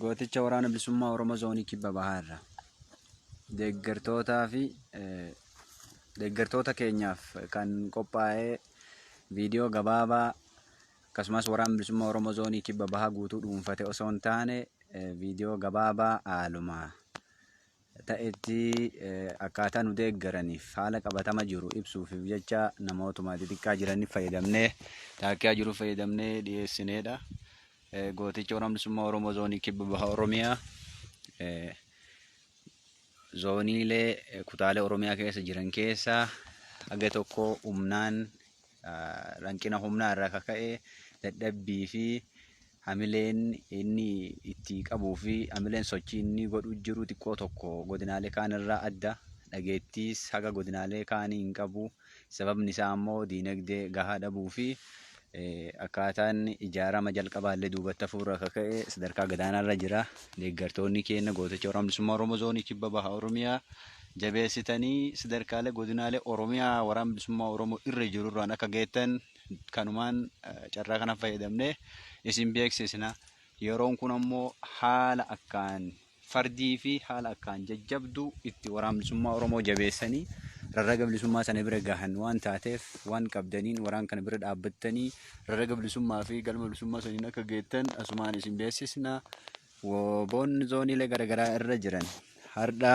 gooticha waraana bilisummaa Oromoo zoonii kibba bahaa irraa deeggartootaa fi deeggartoota keenyaaf kan qophaa'ee viidiyoo gabaabaa akkasumas waraana bilisummaa Oromoo zoonii kibba bahaa guutuu dhuunfate osoo hin taane viidiyoo gabaabaa haaluma ta'etti akkaataa nu deeggaraniif haala qabatama jiru ibsuufiif jecha namootuma xixiqqaa jiraniif fayyadamnee taakiyaa jiru fayyadamnee dhiyeessineedha. Gooticha Waraana Bilisummaa Oromoo Zoonii Kibba Baha Oromiyaa zooniilee kutaalee Oromiyaa keessa jiran keessaa haga tokko humnaan Hanqina humnaa irraa kan ka'e dadhabbii fi hamileen inni itti qabuu fi hamileen sochii inni godhu jiru xiqqoo tokko godinaalee kaan irraa adda. Dhageettiis haga godinaalee kaanii hin qabu. Sababni isaa ammoo diinagdee gahaa dhabuu fi akkaataan ijaarama jalqabaallee duubatti hafuurraa kan ka'e sadarkaa gadaanaarra jira. Deeggartoonni keenya gooticha waraana bilisummaa Oromoo zoonii kibba baha Oromiyaa Jabeessitanii sadarkaalee godinaalee Oromiyaa Waraana Bilisummaa Oromoo irra jiru irraan akka geettan kanumaan carraa kana fayyadamnee isin beeksisna. Yeroon kun ammoo haala akkaan fardii fi haala akkaan jajjabduu itti Waraana Bilisummaa Oromoo jabeessanii rarraga bilisummaa sana bira gahan waan taateef waan qabdaniin waraan kana bira dhaabbattanii rarraga bilisummaa fi galma bilisummaa saniin akka geettan asumaan isin beeksisna. Wobon zooniilee garagaraa irra jiran hardha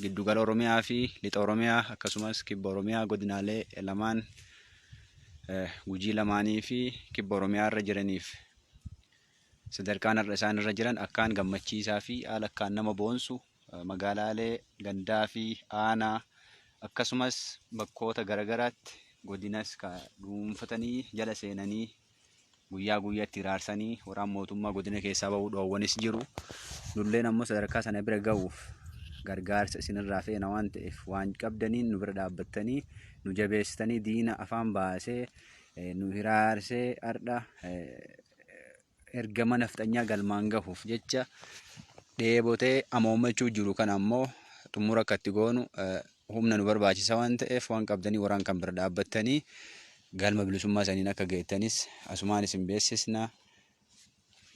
giddugala Oromiyaa fi lixa Oromiyaa akkasumas kibba Oromiyaa godinaalee lamaan gujii lamaanii fi kibba Oromiyaa irra jiraniif sadarkaan har'a isaan irra jiran akkaan gammachiisaa fi haala akkaan nama boonsu magaalaalee gandaa fi aanaa akkasumas bakkoota garagaraatti godinas dhuunfatanii jala seenanii Guyyaa guyyatti hiraarsanii waraan mootummaa godina keessaa ba'uu dhoowwanis jiru. Nulleen ammoo sadarkaa sana bira ga'uuf gargaarsa isinirraa feena waan ta'eef waan qabdaniin nu bira dhaabbattanii nu jabeessitanii diina afaan baasee eh, nu hiraarsee har'a eh, ergama nafxanyaa galmaan gahuuf jecha dheebotee amoomachuu jiru kan ammoo xumura akka itti goonu eh, humna nu barbaachisa waan ta'eef waan qabdanii waraan kan bira dhaabbattanii galma bilisummaa saniin akka geettanis asumaan isin beeksisna.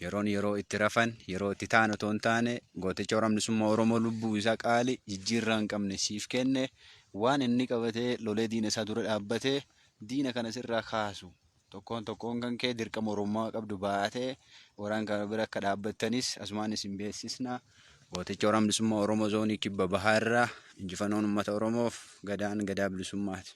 Yeroon yeroo itti rafan yeroo itti ta'an otoo hin taane gooticha waraan bilisummaa Oromoo lubbuu isaa qaali jijjiirraa hin qabne siif kenne waan inni qabatee lolee diina isaa dura dhaabbatee diina kana sirraa kaasu Tokkoon tokkoon kan kee dirqama Oromummaa qabdu baatee waraan kana bira akka dhaabbattanis asumaan isin beeksisna. Gooticha Waraan Bilisummaa Oromoo Zoonii Kibba Bahaa irraa injifannoon uummata Oromoof gadaan gadaa bilisummaati.